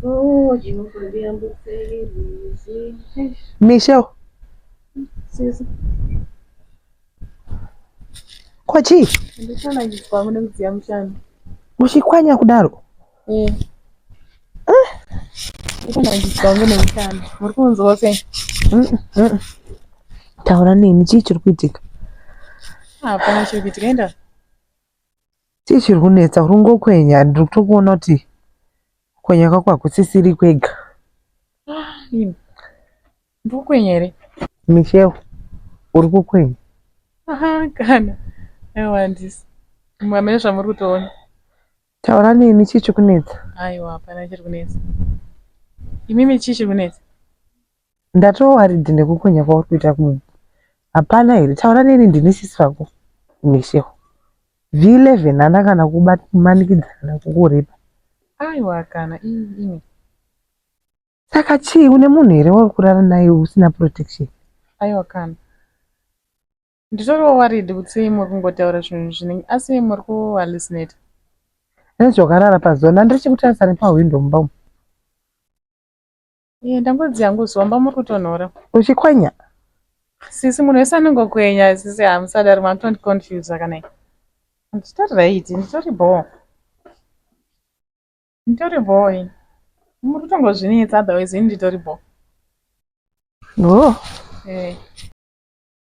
Oh, Michelle. Susan. Kwa chii? Uchikwanya kudaro? Eh. Ah. Muri kunzwa sei? Taura neni chii chiri kuitika? Hapana chiri kuitika enda. Chii chiri kunetsa uri ngokwenya ndiri kutokuona kuti kwenya kwako hakusisiri kwega. Ah, ini. Ndiri kukwenya here? Michelle uri kukwenya. Aha kana. Aiwa handisi. Mwamene zvamuri kutoona. Taura neni chii chikunetsa? Aiwa hapana chiri kunetsa. Imimi chii chiri kunetsa? Ndatowaridhi nekukonya kwauri kuita kumunhu. Hapana here? Taura neni ndini sisi vako. Misheho. V11 hana kana kumanikidza kana kukurepa. Aiwa kana ini. Saka chii une munhu here wauri kurara naye usina protection? Aiwa kana. Nditoriwo worried kuti sei muri kungotaura zvinhu zvinenge asi muri ku hallucinate. Hezvo wakarara pazuva nani ndiri chikutarisa nepahwindo mumba umu. Iye ndangozi yangu zuva mba muri kutonhora. Uchikwenya? Sisi munhu wese anongokwenya sisi hamusadari makutondiconfuse akanai. Nditori right nditori bhoo. Nditori bhoo ini. Muri kutongozvinetsa otherwise ini nditori bhoo. Oh. Eh.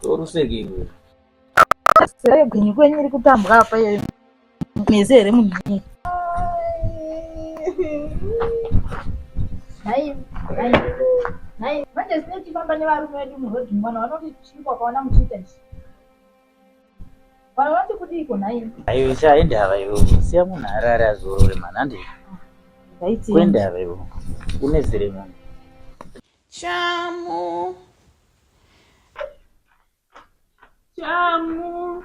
torusekeiwe sere gwenyu kwenyu iri kutambwa apa iyoyo mese here munhu ii manje sine tifamba nevarume vedu murodhi mwana vanoti chii kwakaona muchiita ichi Vana vati kudiiko nhai? Ayo chaende hava iwe. Siya munhu arare azorore mhani hande. Ndaiti kwende hava iwe. Une zire munhu. Chamu. Chamu.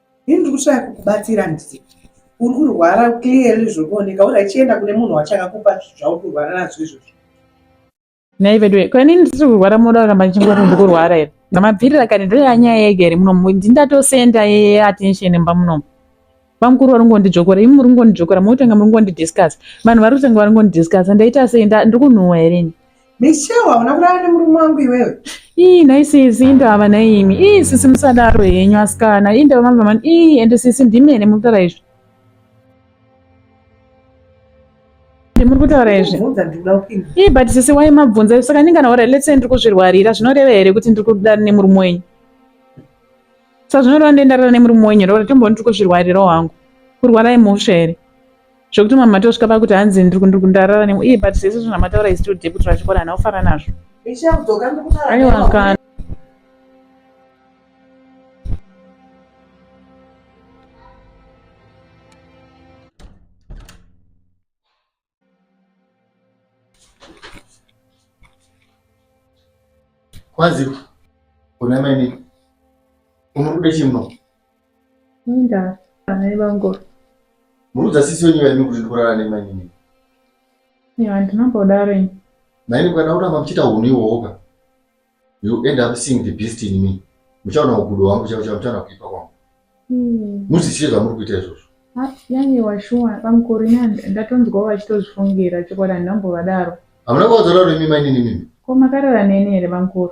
Ini ndiri kushaya kukubatsira ndisi. Uri kurwara clearly zviri kuoneka uri achienda kune munhu wachakakupa zvauri kurwara nazvo izvozvo. Nhai veduwe, ko ini ndisiri kurwara munoda kuramba ndichingoti ndiri kurwara here? Ndamabvirira kani ndoya nyaya yega here munomu ndindatosenda attention mumba munomu. Bamukuru vari kungondidzvokora, imi muri kungondidzvokora, mokutanga muri kungondidiscuss. Vanhu vari kutanga vari kungondidiscuss, ndaita sei ndiri kunhuhwa here ini? Michelle hauna kurara nemurume wangu iwewe. Ii nhai sisi indava naimi. Ii sisi musadaro henyu asikana. Ii ndava mama mani. Ii ende sisi ndimi ene muri kutaura izvi. Ndimuri kutaura izvi. Ndibvunza ndikuda kupinda. Ii but sisi why mabvunza izvi saka ndingana ora let's say ndiri kuzvirwarira zvinoreva here kuti ndiri kuda nemurume wenyu. Saka zvinoreva ndendarara nemurume wenyu here ora tomboni ndiri kuzvirwarirawo hangu. Kurwara imhosva here. zvekuti mama tosvika pakuti hanzi ndarara nemwe iye but zvese zvamataura is still deputy rachikora hana kufara nazvo aiwa kana kwaziwa kuna mainini unokuda chimno Inda amai vangu. Muudza sisi wenyu vaimi kuti ndikurara nemainini. Ya ndinombodaro ini. Maini mukada kuramba muchiita hunhu iwowoka. You end up seeing the beast in me. Muchaona ugudo wangu chavo chavo muchaona kuipa kwangu. Hmm. Muzisiye zvamuri kuita izvozvo. Ah, yani washuwa pamukuru ini ndatonzwa vachitozvifungira chokwadi handambovadaro. Hamuna kuvaudza daro imi mainini mimi. Ko makarara neni here pamukuru?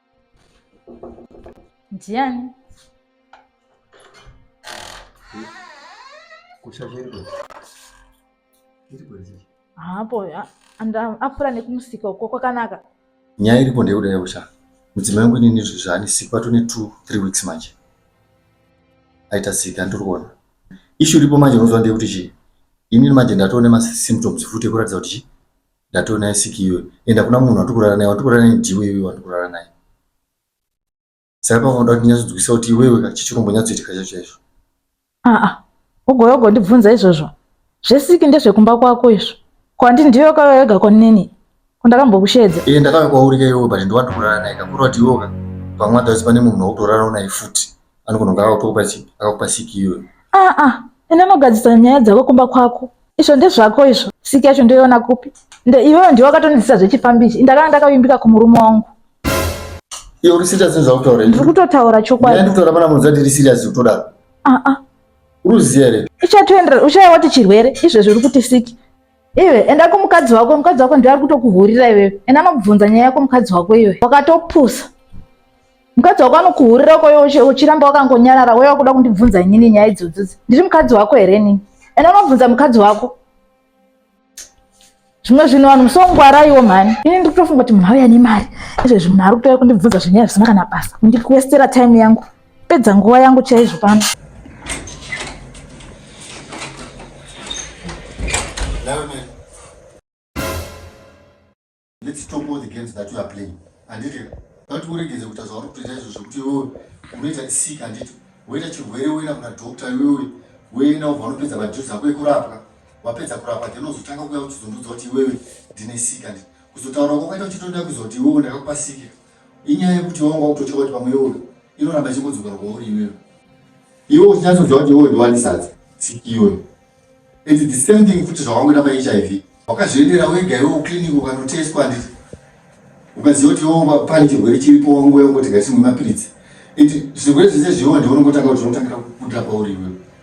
ndiani hapo apfuura nekumusika uko kwakanaka nyaya iripo ndeyekuda yausha mudzimai wangu inini izvo zvaanisikwa tone two three weeks manje aita sika ndiri kuona ishu iripo manje unoziva ndeyekuti chii inini manje ndatoone masymptoms futi ekuratidza kuti chii Ndatoo naye siki iwe. Enda kuna munhu wandiri kurara naye, wandiri kurara naye ndiwe iwe wandiri kurara naye. Saka pavanoda kuti nyatsodzwisa kuti iwewe ka chechirombo nyatsoitika chacho chaizvo. Aa, ah, ugouya ugondibvunza izvozvo. Zvesiki ndezvekumba kwako izvo. Ko handi ndiwe wakauya wega kwanini? Ko ndakambokusheedza. Ee, eh, ndakauya kwauri ka iwewe but ndiwe wandiri kurara naye ka. Kureva kuti iwewe ka pamwe adhazi pane munhu wautorarawo naye futi. anogona kunge akakupa chipi akakupa siki iwe aa ah, ah. ende anogadzisa nyaya dzako kumba kwako izvo ndezvako izvo siki yacho ndoiona kupi nde iwewe ndiwe wakatonizisa zvechifambi ichi ndakanga ndakavimbika kumurume wangu iwe uri serious nezvautaura ndiri kutotaura chokwadi ndiri kutaura pana munzati iri serious kutodaro aa ah, uruziya here uchatoendera uchaiwa kuti chirwere izvezvi uri kuti siki iwe enda kumukadzi wako mukadzi wako ndiye ari kutokuhurira iwewe enda anokubvunza nyaya yako mukadzi wako iwe wakatopusa mukadzi wako anokuhurira ukoyo uchiramba wakangonyarara wewe wakuda kundibvunza inini nyaya idzodzodzi ndiri mukadzi wako here nini enda unobvunza mukadzi wako zvimwe zvinhu vanhu musongwaraiwo mhani ini ndiri kutofunga kuti munhu auya nemari izvezvi munhu ari kutouya kundibvunza zvenyaya zvisina kana basa ndiri kuwestera time yangu Pedza nguva yangu chaizvo pano. Let's talk about the games that you are playing. Anditi, vati uregedze kuita zvauri kutoita izvo zvekuti iwewe unoita sick anditi woita chirwere woenda kuna doctor iwewe woenda ubva unopedza madhirisi ako ekurapwa wapedza kurapa then uzotanga kuya uchizondiudza kuti iwewe ndine sika ndi kuzotaura kwakaita uchitoda kuzoti iwewe ndakakupa sika inyaya yekuti wanga wakutotywa kuti pamwe iwoyo inoramba ichingodzokera kwauri iwewe iwe uchinyatsoziva kuti iwoyo ndiwanisadza siki iyoyo and the same thing futi zvawangoita pahiv wakazviendera wega iwe uclinic ukanotestwa handiti ukaziva kuti iwo pane chirwere chiripo wangu yangoti ngatimwe mapiritsi and zvirwere zvese zviwo ndiwo unongotanga kuti unotangira kubuda pauri iwewe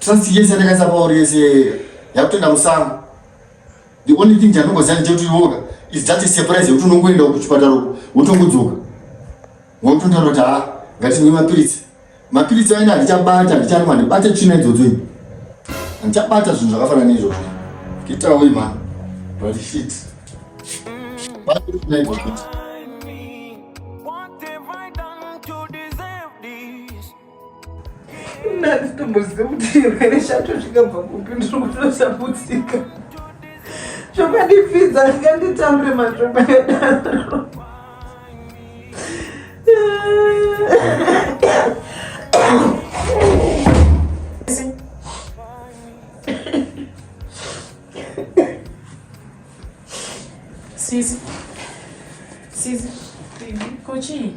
trust yese yandakaisa pauri yese yakutoenda musango the only thing chandongoziva ndechekuti iwoka is just a surprise yekuti unongoenda kuchipatara uko wotongodzoka wototaura kuti ha ngatinwe mapiritsi mapiritsi aina handichabata handicharima ndibate tsvina idzodzo ini handichabata zvinhu zvakafanana neizvozvo kitawo imani but shit Ndanzi tomboziva kuti chirwere chacho chikabva kupi ndiri kutotambudzika zvokandipfidza ndikanditambure matomba yadaro Sisi. Sisi. Kochi.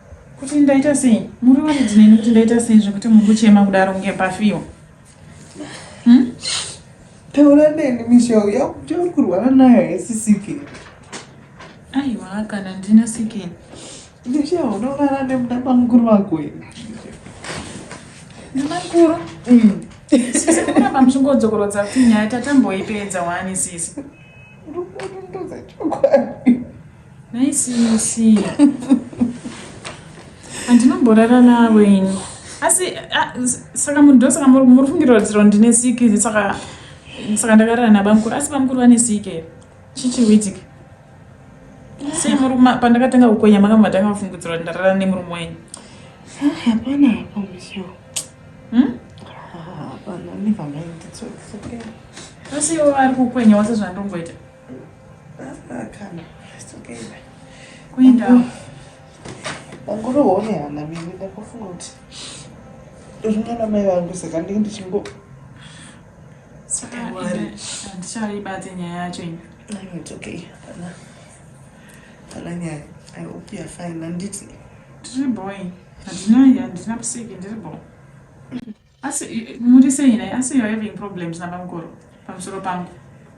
kuti ndaita sei muri waridzi neni kuti ndaita sei zvekuti muri kuchema kudaro kunge pafiwa hmm? taura neni mishau yauri kurwara nayo haisisike aiwa kana ndina sikeni ndisha unorara nemudaba mukuru wako here ndimamukuru hmm. sisi kuramba muchingodzokorodza kuti nyaya tatamboipedza wani sisi uri kuona ndoza chokwadi Nhai sisi. Andinomborara navo ini. Asi ah, s- saka munhu ndosaka muri muri kufungira kuti ro ndine siki saka saka ndakarara nabamukuru asi bamukuru vane siki here? Chii chiri kuitika? Sei muri kuma pandakatanga kukwenya makanga matanga kufungidzira kuti ndarara nemurume wenyu? Hapana hapa msio. Hmm? Hapana, never mind. It's okay. Asi ivo vari kukwenya wose zvandongoita. kuenda wangoroone hana mimi ndakufunga kuti rinana mai vangu saka ndinge ndichingo handichaibate nyaya yacho ini it's okay hapana hapana nyaya i hope you're fine handiti ndiri boy handina handina musiki ndiri boy Asi muri sei nhai? Asi you're having problems nabamukuru pamusoro pangu.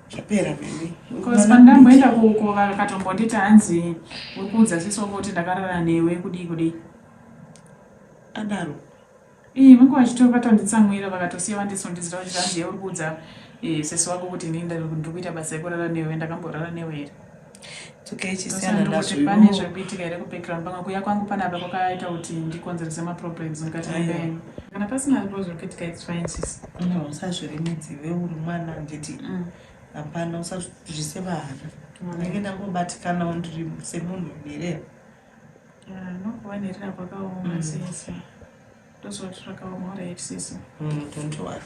Zvapera baby. Because pandamboenda kuko vakatombonditi hanzi uri kuudza sisi wako kuti ndakarara newe kudii kudii. Adaro. Ii vangu vachito vatonditsamwira vakatosiya vandisundizira kuti hanzi uri kuudza eh, sisi wako kuti ini ndiri kuita basa rekurara newe ndakamborara newe here. pane zvekuitika here kupekera mupanga kuya kwangu panapa kwakaita kuti ndikonzerese maproblems mukati mebenyu kana pasina zvo zvekuitika its fine sis no usazviremedzi iwe uri mwana handiti mm. hapana usazvise vahana ndenge ndangobatikanawo ndiri semunhu nherera nokuva nherera kwakaoma mm. sese ndozvati zvakaoma uraitsisi mm, don't worry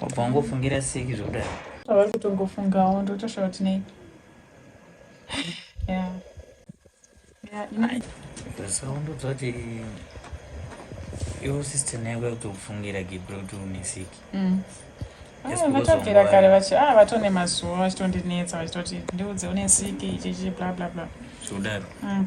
wabva wangofungira seki zvokudai avari kutongofungawo ndotoshawa kuti nei tasaumbudza kuti iwo sister naye kwakutokufungira gibro kuti une seki mm. ah, vatobvira kare vachi a ah, vatone mazuva vachitondinetsa vachitoti ndiudze une siki ichichi bla bla bla zvodaro mm.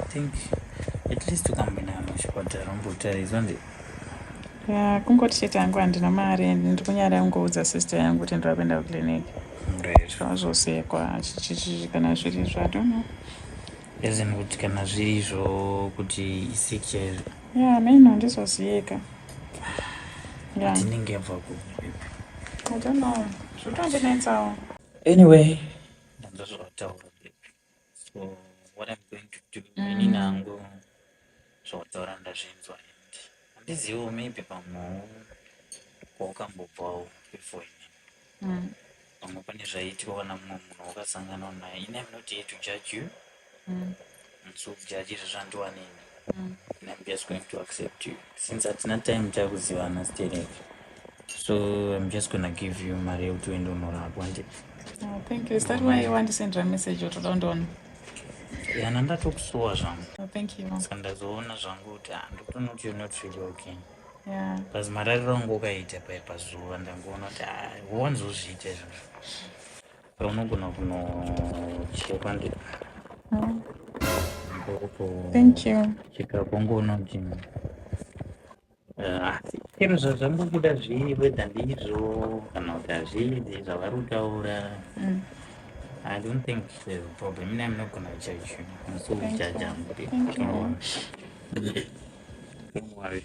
I think at least ukamboenda kana kuchipatara umbotaridzwa nde ya kungoti chete yangu handina mari and ndiri kunyara kungoudza sister yangu kuti ndiri kuenda kuclinic zvazvosekwa chichichi kana zviri izvo i don't know as in kuti kana zviri izvo kuti isik chaizvo ya meno handizoziyeka tinenge yabva kupi i don't know zvotondinetsawo anyway ndanzva zvavataura so what i'm going to do mm. ini nangu zvotaura ndazvinzwa and handizivo maybe pamwewo kwaukambobvawo before ini mm. pamwe pane zvaiitwa kana mumwe munhu wakasanganwa naye ini am not here to judge you mm. so judge izvezvandiwanini mm. and i'm just going to accept you since hatina time takuzivana sterek so i'm just gonna give you mari yekuti uende unorapwa ndi oh, thank you is that why wandisendera message otoda undiona yana ndatokusuwa zvangu oh, thank you ska ndazoona zvangu kuti ah, ndotonoti you're not really okay yeah. bcause marariro angu ukaita paye pazuva ndangoona kuti ah, wanzozviita izvozvo unogona kunochekwa ndi cheka kongo unoti asi chero zvazvambobuda zvii whether ndizvo kana kuti hazvizi zvavari kutaura mm. I don't think there's a problem. I'm not gonna judge you. I'm so judge. Don't worry.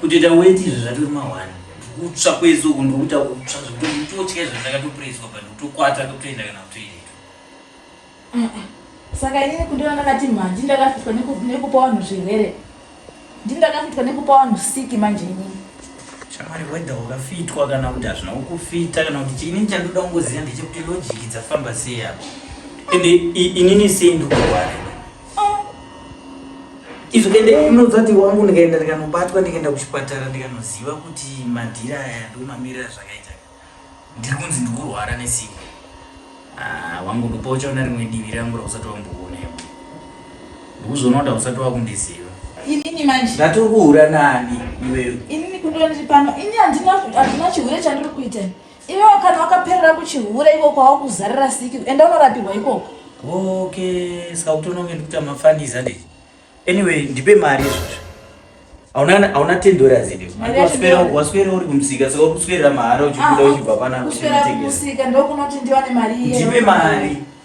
kutoita weti izvo zvatori mahwani kutsva kwese uku ndokuita kutsva zvekutotya izvo zvakatopreswa but kutokwata kutoenda kana kutoiretu saka inini kundona ndakati mhanji ndakafitwa nekupa vanhu zvirwere ndini ndakafitwa nekupa vanhu siki manje inini shamwari wedha wakafitwa kana kuti hazvina kukufita kana kuti chiinini chandoda kungoziva ndechekuti lojiki dzafamba sei apo ende inini sei ndokurwara izvo kende inozati wangu ndikaenda ndikanobatwa ndikaenda kuchipatara ndikanoziva kuti madhiri aya ndomamirira zvakaita ndiri kunzi ndikurwara nesimba ah, wangu ndopa uchaona rimwe divi rangu rausati wamboona iwe ndikuzoona kuti hausati wakundiziva inini manje ndatiri kuhura nani iweyo inini kundoniri pano ini handina chihure chandiri kuita Iwewo kana wakaperera kuchihure iko kwawakuzarira siki enda unorapirwa ikoko. Okay, saka kutononge ndikuta mafaniza ndii. Anyway, ndipe mari izvozvo. Hauna hauna 10 dollars ndii. Mari waswera waswera uri kumsika saka kuswera mahara uchikuda ah, uchibva pana kuswera kumsika ndokunoti ndiwane mari iye. Ndipe mari.